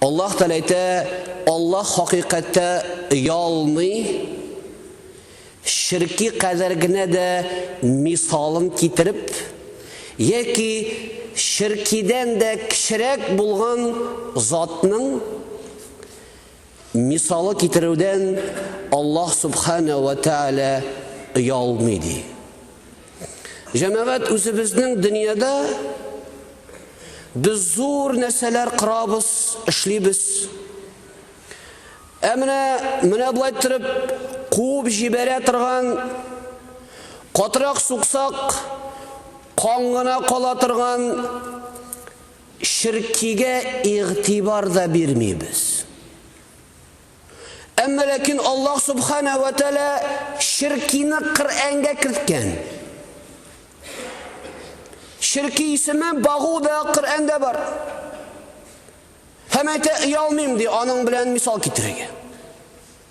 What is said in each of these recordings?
Аллаһ Тәгалә әйтә, Аллаһ хакыйкатьтә оялмый, ширки кадәр генә дә мисалын китереп, яки ширкидән дә кечерәк булган затның Мисалы китерүдән Аллаһ Субхана вә Тәгалә оялмый ди. Җәмәгать үзебезнең дөньяда без зур нәрсәләр кырабыз, эшлибез. Ә менә менә болай торып куып җибәрә торган катырак суксак кан гына кала торган Ширккигә игътибар да бирмибез. Әмма ләкин Аллаһ Субханәһү вә Тәгалә ширккины Коръәнгә керткән. Ширкки исеме багу да Коръәндә бар. Һәм әйтә, оялмыйм, ди, аның белән мисал китерергә.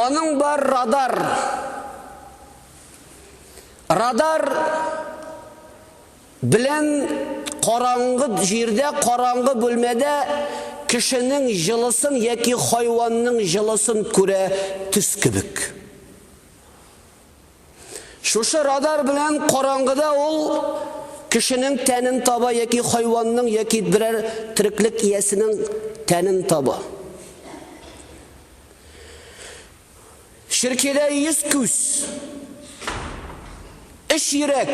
Аның бар радар. Радар белән караңгы җирдә, караңгы бүлмәдә кешенең җылысын яки хайванның җылысын күрә төс кебек. Шушы радар белән караңгыда ул кешенең тәнен таба яки хайванның яки берәр тереклек иясенең тәнен таба. Ширкедә 100 күз, 3 йөрәк,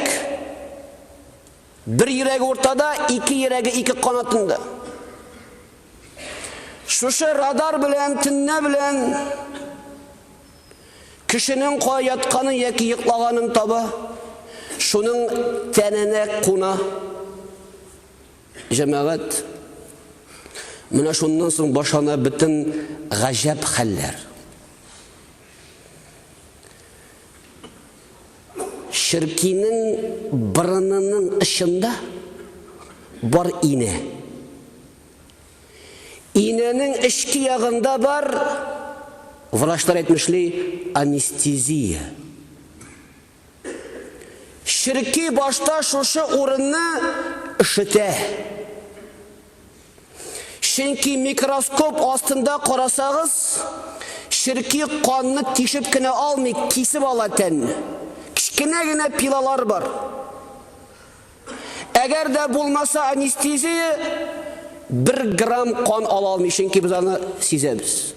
бер йөрәге уртада, ике йөрәге ике канатында. Шушы радар белән, төннә белән Кешенең кая ятканын яки йоклаганын таба, шуның тәненә куна. Җәмәгать, менә шуннан соң башлана бөтен гаҗәп хәлләр. Черкинең борынының очында бар инә. Инәнең эчке ягында бар, врачлар әйтмешли, анестезия. Черки башта шушы урынны ышытә. Чөнки микроскоп астында карасагыз, черки канны тишеп кенә алмый, кисеп ала тәнне. Кечкенә генә пилалар бар. Әгәр дә булмаса анестезия, бер грамм кан ала алмый, чөнки без аны сизәбез.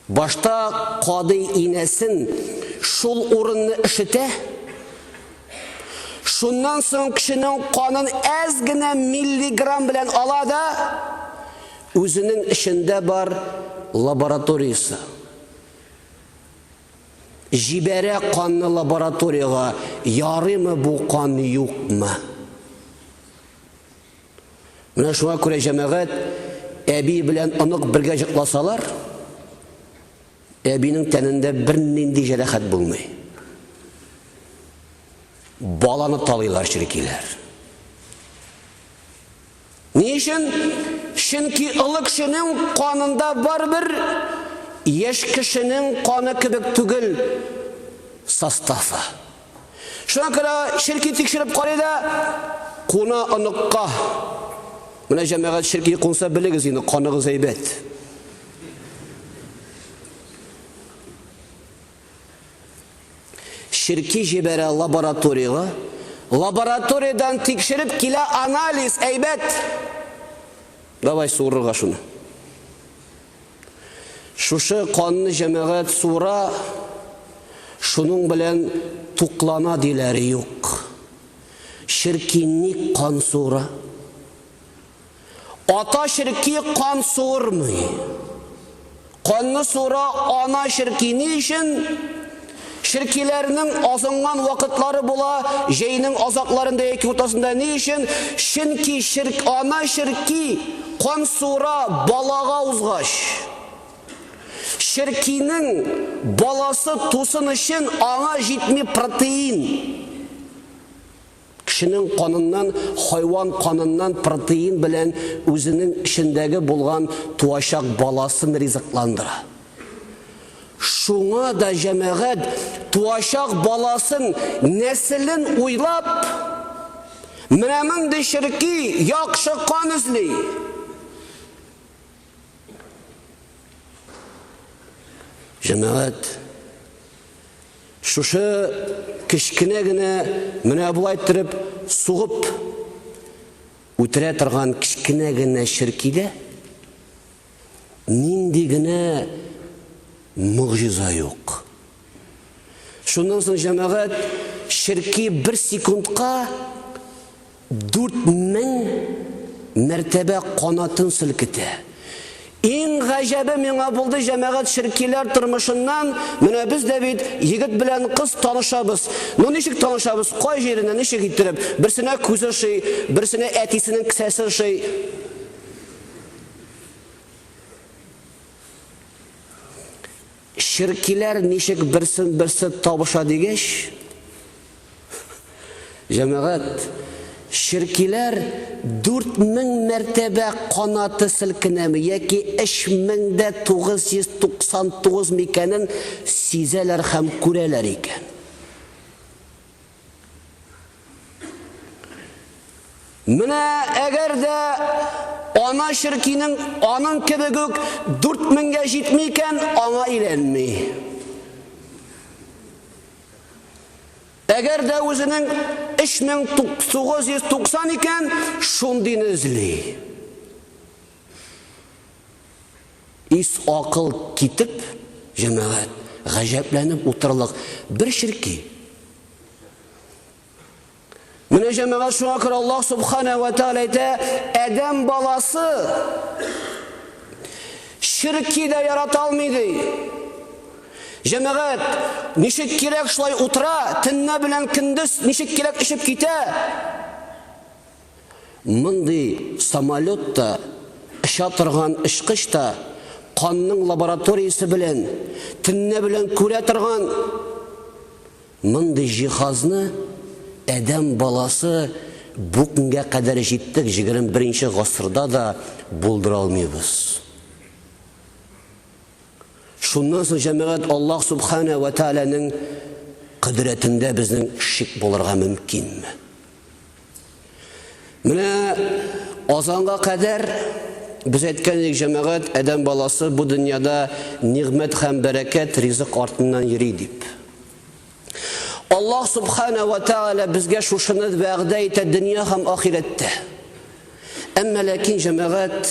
Башта кадый инәсен шул урынны ишетә, Шуннан соң кешенең канын әз генә миллиграмм белән ала да, үзенең эшендә бар лабораториясе. Җибәрә канны лабораториягә, ярыймы бу кан юкмы? Менә шуңа күрә җәмәгать әби белән онык бергә җыкласалар, әбинең тәнендә бер нинди җәрәхәт булмый. Баланы талыйлар чиркиләр. Ни өчен? Чөнки олы кешенең канында барыбер яшь кешенең каны кебек түгел составы. Шуңа күрә черки тикшереп карый да, куна оныкка. Менә җәмәгать черки кунса белегез инде, каныгыз әйбәт. Черки җибәрә лабораториягә. Лабораториядән тикшереп килә анализ, әйбәт. Давай суырырга шуны. Шушы канны җәмәгать суыра, шуның белән туклана диләр, юк. Черки ник кан суыра? Ата черки кан суырмый. Канны суыра ана черки ни өчен? Черкиләрнең азынган вакытлары була, җәйнең азакларында яки уртасында ни өчен? Чөнки черк ана черки кан суыра балага узгач. Черкинең баласы тусын өчен аңа җитми протеин. Кешенең каныннан хайван каныннан протеин белән үзенең эчендәге булган туачак баласын ризыкландыра. Шуңа да җәмәгать туачак баласын, нәселен уйлап, менә мондый черки, яхшы кан эзли. Җәмәгать шушы кечкенә генә менә болай иттереп сугып үтерә торган кечкенә генә ширкидә нинди генә мөгъҗиза юк. Шуннан соң җәмәгать ширки бер секундка Дүрт мең мәртәбә канатын селкетә. Иң гаҗәбе миңа булды, җәмәгать черкиләр тормышыннан, менә без дә бит егет белән кыз танышабыз. Ну ничек танышабыз, кай җиренә, ничек иттереп? Берсенә күз ошый, берсенә әтисенең кесәсе ошый. Черкиләр ничек берсен-берсе табыша дигәч, җәмәгать, черкиләр дүрт мең мәртәбә канаты селкенәме яки өч мең дә тугыз йөз туксан тугызмы икәнен сизәләр һәм күрәләр икән. Менә әгәр дә ана черкинең аның кебек үк 4000-гә җитми икән, аңа өйрәнми. Әгәр дә үзенең 3990 икән, шундыйны эзли. Ис акыл китеп, җәмәгать, гаҗәпләнеп утырлык бер ширки. Менә җәмәгать шуңа күрә Аллаһ Субхана ва Тааля әйтә, Адәм баласы ширки дә ярата алмый ди. Җәмәгать, ничек кирәк шулай утыра, төнне белән көндез ничек кирәк эчеп китә. Мондый самолет та, оча торган очкыч та канның лабораториясе белән төнлә белән күрә торган мондый җиһазны адәм баласы бу көнгә кадәр җиттек 21 нче гасырда да булдыра алмыйбыз. Шуннан соң, җәмәгать, Аллаһ Субхана вә Тәгаләнең кодрәтендә безнең шик булырга мөмкинме? Менә азанга кадәр без әйткән идек, җәмәгать, адәм баласы бу дөньяда нигъмәт һәм бәрәкәт, ризык артыннан йөри дип. Аллаһ субхана ва тааля безгә шушыны вәгъдә итә дөнья һәм ахирәттә. Әмма ләкин җәмәгать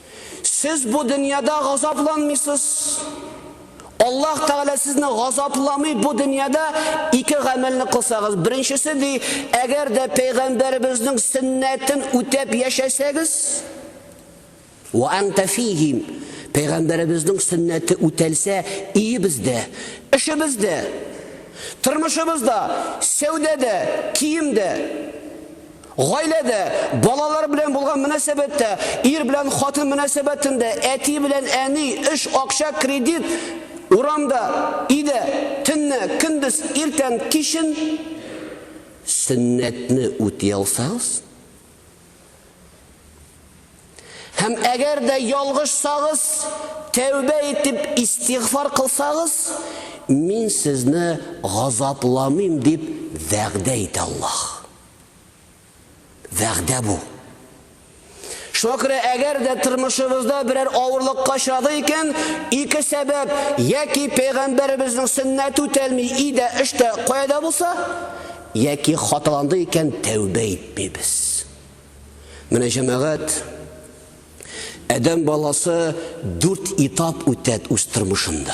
Сез бу дөньяда газапланмыйсыз. Аллаһ Тәгалә сезне газапламый бу дөньяда ике гамәлне кылсагыз. Беренчесе ди, әгәр дә пәйгамбәребезнең сөннәтен үтәп яшәсәгез, ва анта фихим. Пәйгамбәребезнең сөннәте үтәлсә, иебездә, эшебездә, тормышыбызда, сәүдәдә, киемдә Гаиләдә, балалар белән булган мөнәсәбәттә, ир белән хатын мөнәсәбәтендә, әти белән әни, эш, акча, кредит, урамда, өйдә, төнне, көндез, иртән, кичен, сөннәтне үти алсагыз, һәм әгәр дә ялгышсагыз, тәүбә итеп истигъфар кылсагыз, мин сезне газапламыйм дип вәгъдә итә Аллаһ. Вәгъдә бу. Шуңа күрә әгәр дә тормышыбызда берәр авырлык качады икән, ике сәбәп, яки пәйгамбәребезнең сөннәте үтәлми, идә, эштә, каядә булса, яки хаталанды икән, тәүбә итмибез. Менә җәмәгать Адәм баласы дүрт этап үтәт үз тормышында.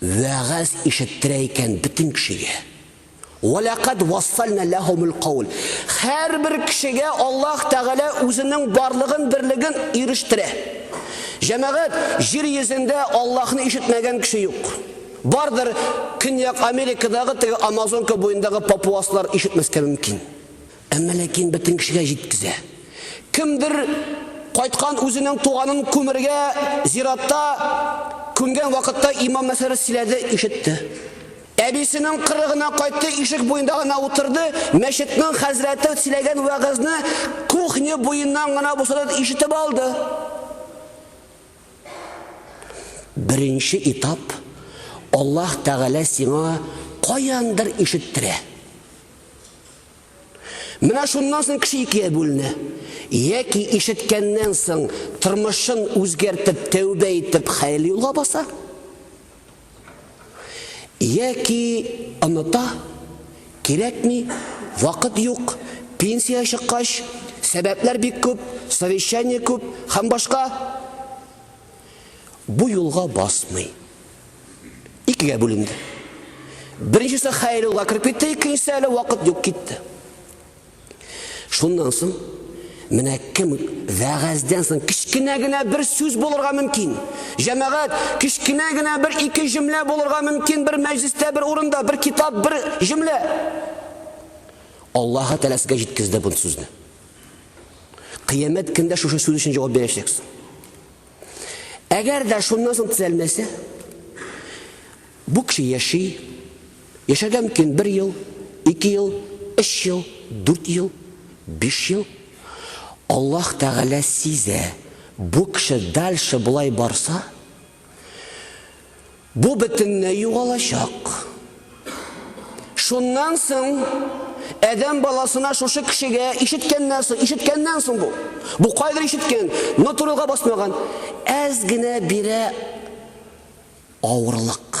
Вәгазь ишеттерә икән бөтен кешегә. Вәләкад вассальна ләһумул каул. Һәрбер кешегә Аллаһ Тәгалә үзенең барлыгын, берлеген ирештерә. Җәмәгать, җир йөзендә Аллаһны ишетмәгән кеше юк. Бардыр, Көньяк Америкадагы теге Амазонка буендагы папуаслар ишетмәскә мөмкин. Әмма ләкин бөтен кешегә җиткезә. Кемдер кайткан үзенең туганын күмергә зиратта күмгән вакытта имам мәсьәләсе сөйләде, ишетте. Әбисенең кырыгына кайтты, ишек буенда гына утырды, мәчетнең хәзрәте сөйләгән вәгазьне кухня буеннан гына булса да ишетеп алды. Беренче этап Аллаһ Тәгалә сиңа каяндыр ишеттерә. Менә шуннан соң кеше икегә бүленә. Яки ишеткәннән соң тормышын үзгәртеп, тәүбә итеп, хәерле юлга баса. Яки оныта, кирәкми, вакыт юк, пенсия чыккач, сәбәпләр бик күп, совещание күп һәм башка бу юлга басмый. Икегә бүленде. Беренчесе Хәйрулла кереп китте, икенчесе әле вакыт юк китте. Шуннан соң менә кем вәгазьдән соң кечкенә генә бер сүз булырга мөмкин. Җәмәгать, кечкенә генә бер ике җөмлә булырга мөмкин бер мәҗлестә, бер урында, бер китап, бер җөмлә. Аллаһы Тәгалә сезгә җиткезде бу сүзне. Кыямәт көндә шушы сүз өчен җавап бирәчәксез. Әгәр дә шуннан соң төзәлмәсә, бу кеше яши, яшәргә мөмкин бер ел, ике ел, өч ел, дүрт ел, биш ел. Аллаһ Тәгалә сизә, бу кеше дальше болай барса, Бу бөтенләй югалачак. Шуннан соң Адәм баласына шушы кешегә ишеткәннән соң, ишеткәннән соң бу. Бу кайдыр ишеткән, но турыга басмаган. Әз генә бирә авырлык.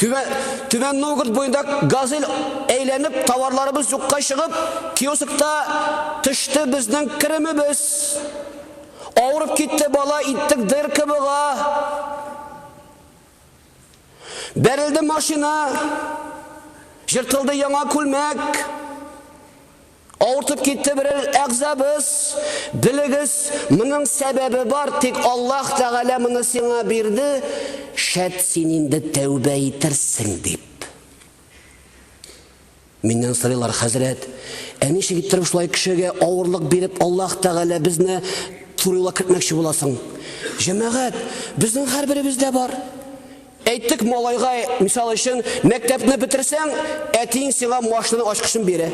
Түбән Новгород буенда газель әйләнеп, товарларыбыз юкка чыгып, киоскта төште безнең керемебез. Авырып китте бала, иттек дырка бога. Бәрелде машина, җыртылды яңа күлмәк. Авыртып китте берәр әгъзабыз, белегез, моның сәбәбе бар, тик Аллаһ Тәгалә моны сиңа бирде, шәт син инде тәүбә итерсең, дип. Миннән сорыйлар, хәзрәт, ә ничек иттереп шулай кешегә авырлык биреп Аллаһ Тәгалә безне турыла кертмәкче буласың? Җәмәгать, безнең һәрберебездә бар. Әйттек, малайга, мисал өчен, мәктәпне бетерсәң, әтиең сиңа машина ачкычын бирә.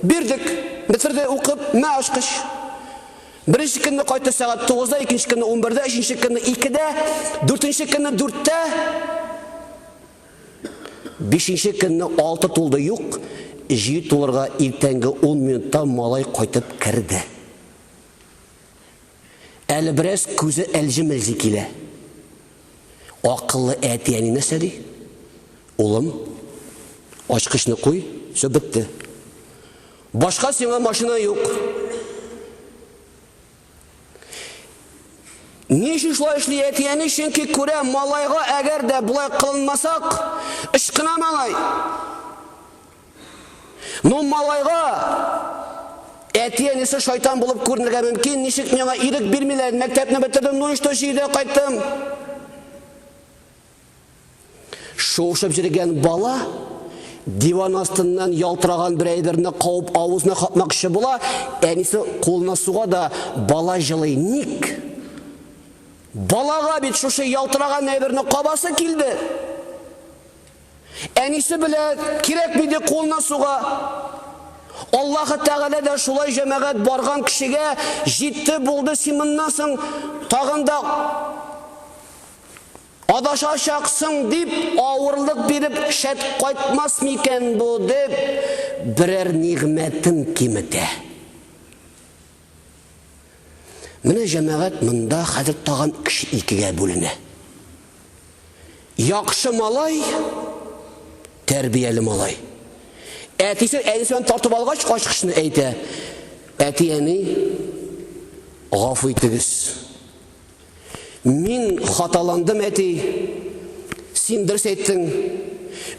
Бирдек. Бетерде, укып, мә ачкыч. Беренче көнне кайтты сәгать тугызда, икенче көнне унбердә, өченче көнне икедә, дүртенче көнне дүрттә, бишенче көнне алты тулды, юк, җиде тулырга иртәнге ун минутта малай кайтып керде. Әле бераз күзе әлҗи-мелҗи килә. Акыллы әти-әни нәрсә ди? Улым, ачкычны куй, все бетте. Башка сиңа машина юк. Ни өчен шулай эшли әти-әни? Чөнки күрә, малайга әгәр дә болай кылынмасак, ычкына малай. Ну, малайга әти-әнисе шайтан булып күренергә мөмкин, ничек миңа ирек бирмиләр, мәктәпне бетердем, ну и что, җирдә кайттым. Шуышып җиргән бала диван астыннан ялтыраган бер әйберне кауып авызына капмакчы була, әнисе кулына суга да бала җылый. Ник? Балага бит шушы ялтыраган әйберне кабасы килде. Әнисе белә кирәк миде кулына суга. Аллаһы Тәгалә дә шулай җәмәгать барган кешегә җитте булды син моннан соң тагын да адашачаксың дип авырлык биреп шәт кайтмас микән бу дип берәр нигъмәтен киметә. Менә җәмәгать монда хәзер тагын кеше икегә бүленә. Яхшы малай, тәрбияле малай. Әтисе әнисен тартып алгач, ачкычны әйтә. Әти-әни, гафу итегез. Мин хаталандым, әти. Син дөрес әйттең.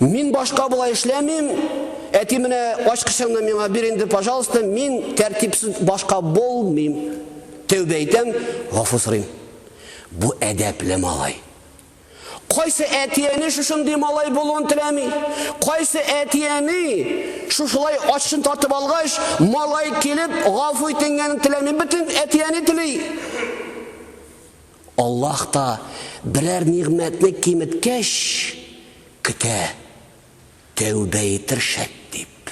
Мин башка болай эшләмим. Әти менә ачкычыңны миңа бир инде, пожалуйста. Мин тәртипсез башка булмыйм. Тәүбә итәм, гафу сорыйм. Бу әдәпле малай. Кайсы әти-әни шушындый малай булуын теләми? Кайсы әти-әни шушылай ачышын тартып алгач, малай килеп, гафу итенгәнен теләми? Бөтен әти-әни тели. Аллаһ та берәр нигъмәтне киметкәч, көтә, тәүбә итер шәт дип.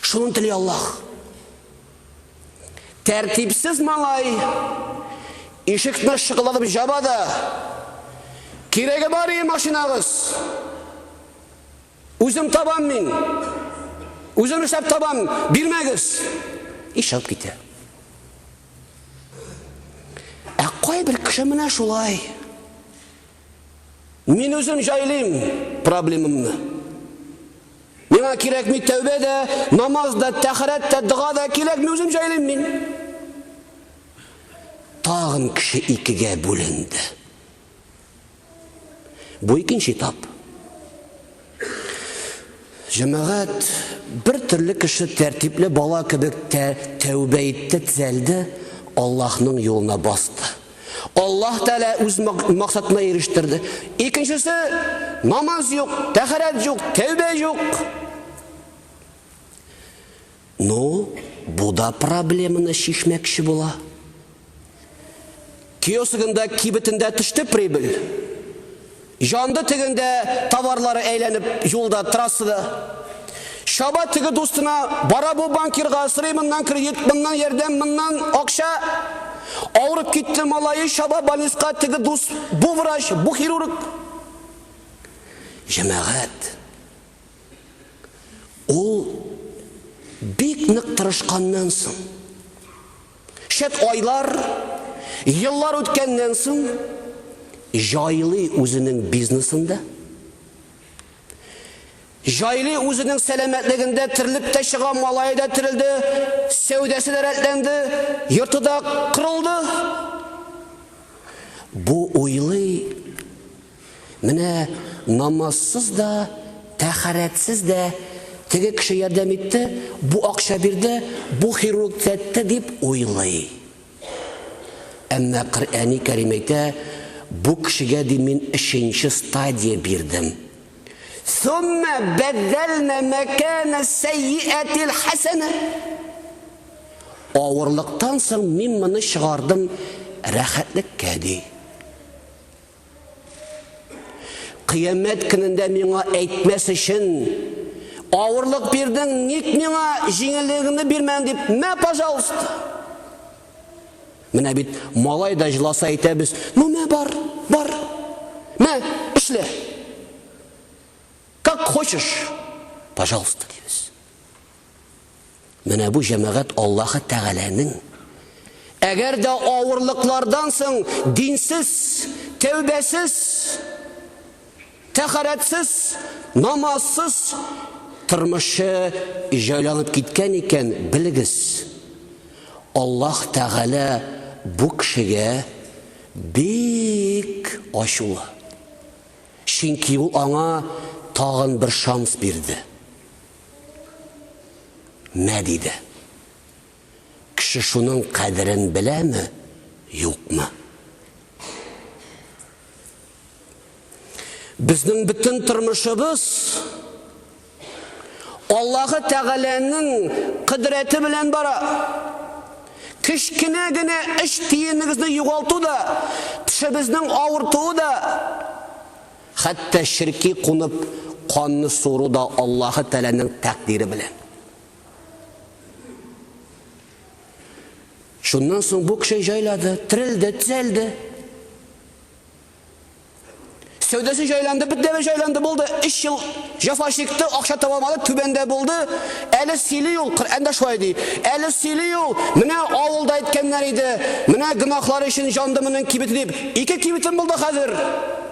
Шуны тели Аллаһ. Тәртипсез малай ишекне шыкылдатып жаба да, кирәге бар и машинагыз. Үзем табам мин. Үзем эшләп табам, бирмәгез. Ишеп китә. Ә кайбер кеше менә шулай. Мин үзем җайлыйм проблемымны. Миңа кирәкми тәүбә дә, намаз да, тәхәрәт тә, дога да кирәкми, үзем җайлыйм мин. Тагын кеше икегә бүленде. Бу икенче этап. Җәмәгать бер төрле кеше тәртипле бала кебек тә тәүбә итте, тезәлде, Аллаһның юлына басты. Аллаһ Тәгалә үз максатына ирештерде. Икенчесе намаз юк, тәхәрәт юк, тәүбә юк. Ну, бу да проблеманы чишмәкче була. Киосогында кибетендә төште прибыль. Җанды тегендә товарлары әйләнеп юлда, трассада. Шаба теге дустына, бара бу банкирга, сырый моннан кредит, моннан ярдәм, моннан акча. Авырып китте малае, шаба больниска, теге дус, бу врач, бу хирург. Җәмәгать. Ул бик нык тырышканнан соң, шәп айлар, еллар үткәннән соң, җайлый үзенең бизнесында, җайлый үзенең сәламәтлегендә терелеп тә чыга, малае да терелде, сәүдәсе дә рәтләнде, йорты да корылды. Бу уйлый Менә намазсыз да, тәхарәтсез дә теге кеше ярдәм итте, бу акча бирде, бу хирург төзәтте дип уйлый. Әмма Коръәни Кәрим әйтә, бу кешегә ди мин өченче стадия бирдем. Сумма бәдәлнә мәкәнә сәйиәтил хәсәнә. Авырлыктан соң мин моны чыгардым рәхәтлеккә ди. Кыямәт көнендә миңа әйтмәс өчен авырлык бирдең, ник миңа җиңеллегеңне бирмәдең дип, мә, пожалуйста. Менә бит малай да җыласа әйтәбез, ну мә бар, бар. Мә, эшлә. Как хочешь, пожалуйста, дибез. Менә бу җәмәгать Аллаһы Тәгаләнең әгәр дә авырлыклардан соң динсез, тәүбәсез, тәхарәтсез, намазсыз тормышы җайланып киткән икән, белегез, Аллаһ Тәгалә бу кешегә бик ачулы. Чөнки ул аңа тагын бер шанс бирде. Мә, диде. Кеше шуның кадерен беләме, юкмы? Безнең бөтен тормышыбыз Аллаһы Тәгаләнең кыдрәте белән бара. Кечкенә генә эш тиенегезне югалту да, тешебезнең авыртуы да Хәтта черки кунып канны суыру да Аллаһы Тәгаләнең тәкъдире белән. Шуннан соң бу кеше җайлады, терелде, төзәлде. Сәүдәсе җайланды, бөтенләй җайланды булды. 3 ел җафа чикте, акча таба алмады, түбәндә булды. Әле сөйли ул, Коръәндә шулай ди. Әле сөйли ул, менә авылда әйткәннәр иде, менә гөнаһлары өчен җанды моның кибете дип. Ике кибетем булды хәзер.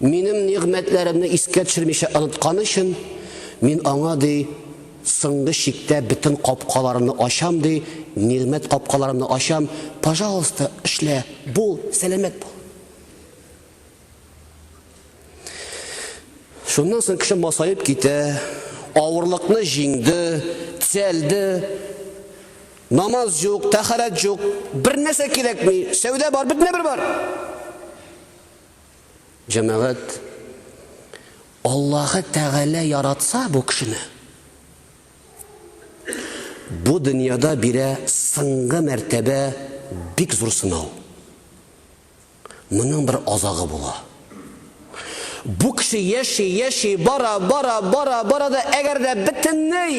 Минем нигъмәтләремне искә төшермичә онытканы өчен, мин аңа, ди, соңгы чиктә бөтен капкаларымны ачам, ди, нигъмәт капкаларымны ачам, пожалуйста, эшлә, бул, сәламәт бул. Шуннан соң кеше масаеп китә, авырлыкны җиңде, төзәлде, намаз юк, тәхәрәт юк, бер нәрсә кирәкми, сәүдә бар, бөтенә бер бар. Җәмәгать, Аллаһы Тәгалә яратса бу кешене, бу дөньяда бирә соңгы мәртәбә бик зур сынау. Моның бер азагы була. Бу кеше яши, яши, бара, бара, бара, бара да, әгәр дә бөтенләй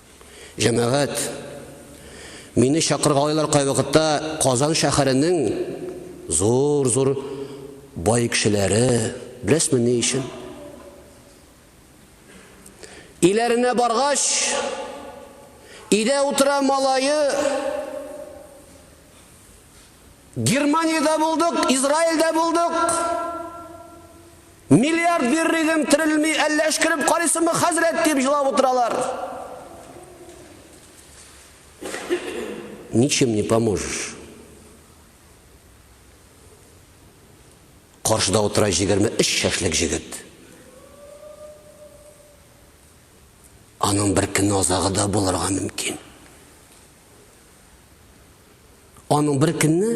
Җәмәгать, мине чакыргалыйлар кайвакытта Казан шәһәренең зур-зур бай кешеләре. Беләсме ни өчен? Иләренә баргач, идә утыра малае. Германиядә булдык, Израильдә булдык. Миллиард бирер идем, терелми, әллә эшкереп карыйсыңмы, хәзрәт, дип җылап утыралар. Ничем не поможешь. Каршыда утыра 23 шәшлек җегет. Аның бер көнне азагы да булырга мөмкин. Аның бер көнне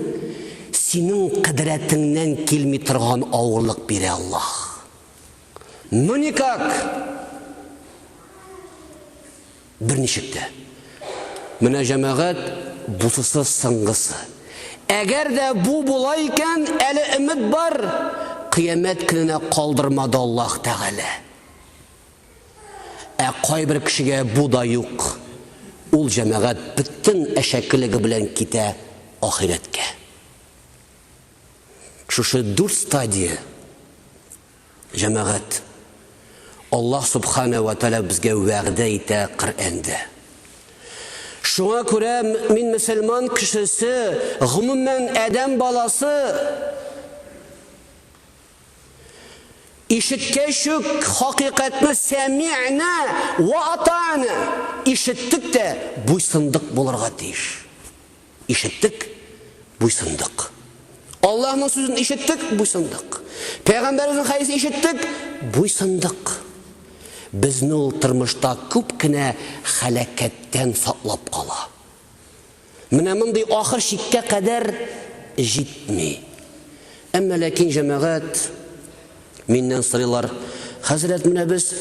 синең кадрәтеңнән килми торган авырлык бирә Аллаһ. Ну никак. Бер ничек тә. Менә җәмәгать бусысы сыңгысы. Әгәр дә бу була икән, әле өмет бар. Кыямәт көненә калдырмады Аллаһ Тәгалә. Ә кайбер кешегә бу да юк, ул җәмәгать бөтен әшәкелеге белән китә ахирәткә. Шушы дүрт стадия, җәмәгать, Аллаһ Субхана вә Тәлә безгә вәгъдә итә Коръәндә. Шуңа күрә мин мөселман кешесе, гомумән, адәм баласы Ишеткәч үк хакыйкатьне сәмигънә вә ата'на, ишеттек тә буйсындык булырга тиеш. Ишеттек, буйсындык. Аллаһның сүзен ишеттек, буйсындык. Пәйгамбәребезнең хәдисен ишеттек, буйсындык. Безне ул тормышта күп кенә хәлакәттән саклап кала. Менә мондый ахыр чиккә кадәр җитми. Әмма ләкин җәмәгать миннән сорыйлар, хәзрәт, менә без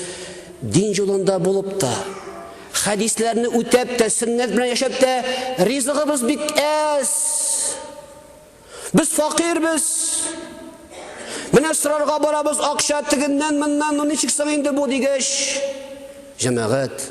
дин юлында булып та, хәдисләрне үтәп тә, сөннәт белән яшәп тә, ризыгыбыз бик әз. Без факирбез. Менә сорарга барабыз акча тегеннән, моннан, ну ничек соң инде бу дигәч, җәмәгать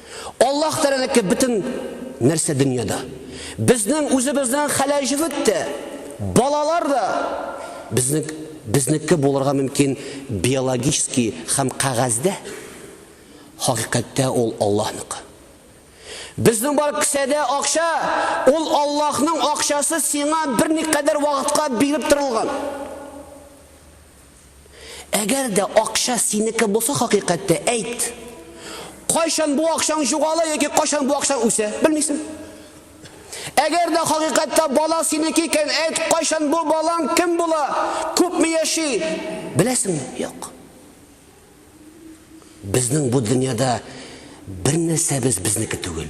Аллаһ Тәгаләнеке бөтен нәрсә дөньяда. Безнең үзебезнең хәләҗебет тә, балалар да безнең безнеке булырга мөмкин биологический һәм кәгазьдә. Хакыйкатьтә ул Аллаһныкы. Безнең бар кесәдә акча, ул Аллаһның акчасы сиңа берникадәр вакытка биреп торылган. Әгәр дә акча синеке булса хакыйкатьтә, әйт. Кайчан бу акчаң җугала яки кайчан бу акчаң үсә, белмисең. Әгәр дә хакыйкатьтә бала синеке икән, әйт, кайчан бу балаң кем була, күпме яши, беләсең? Юк. Безнең бу дөньяда бер нәрсәбез безнеке түгел.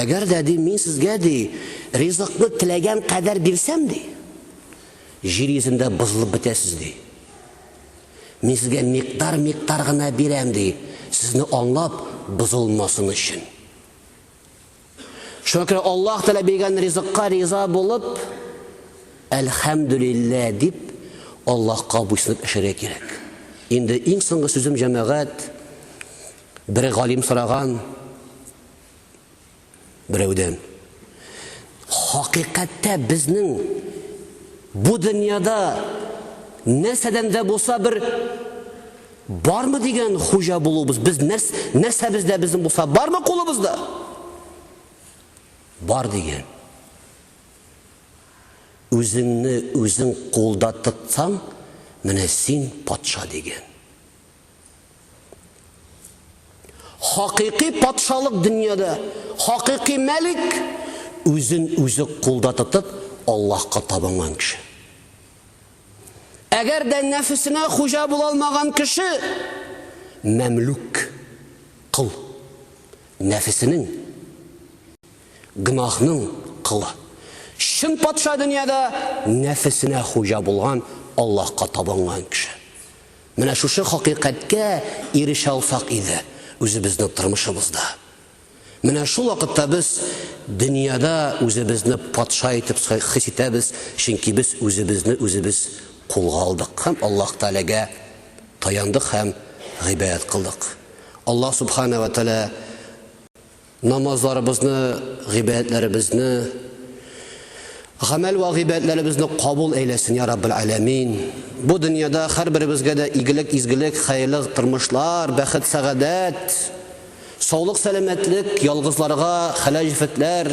Әгәр дә, ди, мин сезгә, ди, ризыкны теләгән кадәр бирсәм, ди, җир йөзендә бозылып бетәсез, ди. Мин сезгә микъдар-микъдар гына бирәм, ди, сезне аңлап бозылмасын өчен. Шуңа күрә Аллаһ Тәгалә биргән ризыкка риза булып, әлхәмдүлиллә дип, Аллаһка буйсынып эшәргә кирәк. Инде иң соңгы сүзем җәмәгать, Бер галим сораган берәүдән. Хакыйкатьтә безнең бу дөньяда нәрсәдән дә булса бер бармы дигән хуҗа булуыбыз, без нәрс, нәрсәбездә безнең булса бармы кулыбызда? Бар дигән. Үзеңне үзең кулда тотсаң, менә син патша дигән. Хакыйкый патшалык дөньяда, хакыйкый мәлик, үзен үзе кулда тотып, Аллаһка табынган кеше. Әгәр дә нәфесенә хуҗа була алмаган кеше, мәмлүк, кол, нәфесенең, гнахның кылы. Чын патша дөньяда нәфесенә хуҗа булган, Аллаһка табынган кеше. Менә шушы хакыйкатькә ирешә алсак иде үзебезнең тормышыбызда. Менә шул вакытта без дөньяда үзебезне патша итеп хис итәбез, чөнки без үзебезне үзебез кулга алдык һәм Аллаһ Тәгаләгә таяндык һәм гыйбадәт кылдык. Аллаһ Сүбхәнә вә Тәгалә Намазларыбызны, гыйбадәтләребезне, гамәл вә гыйбадәтләребезне кабул әйләсен, я Раббел Аләмин. Бу дөньяда һәрберебезгә дә игелек, изгелек, хәерле тормышлар, бәхет, сәгадәт, саулык, сәламәтлек, ялгызларга хәләл җефетләр,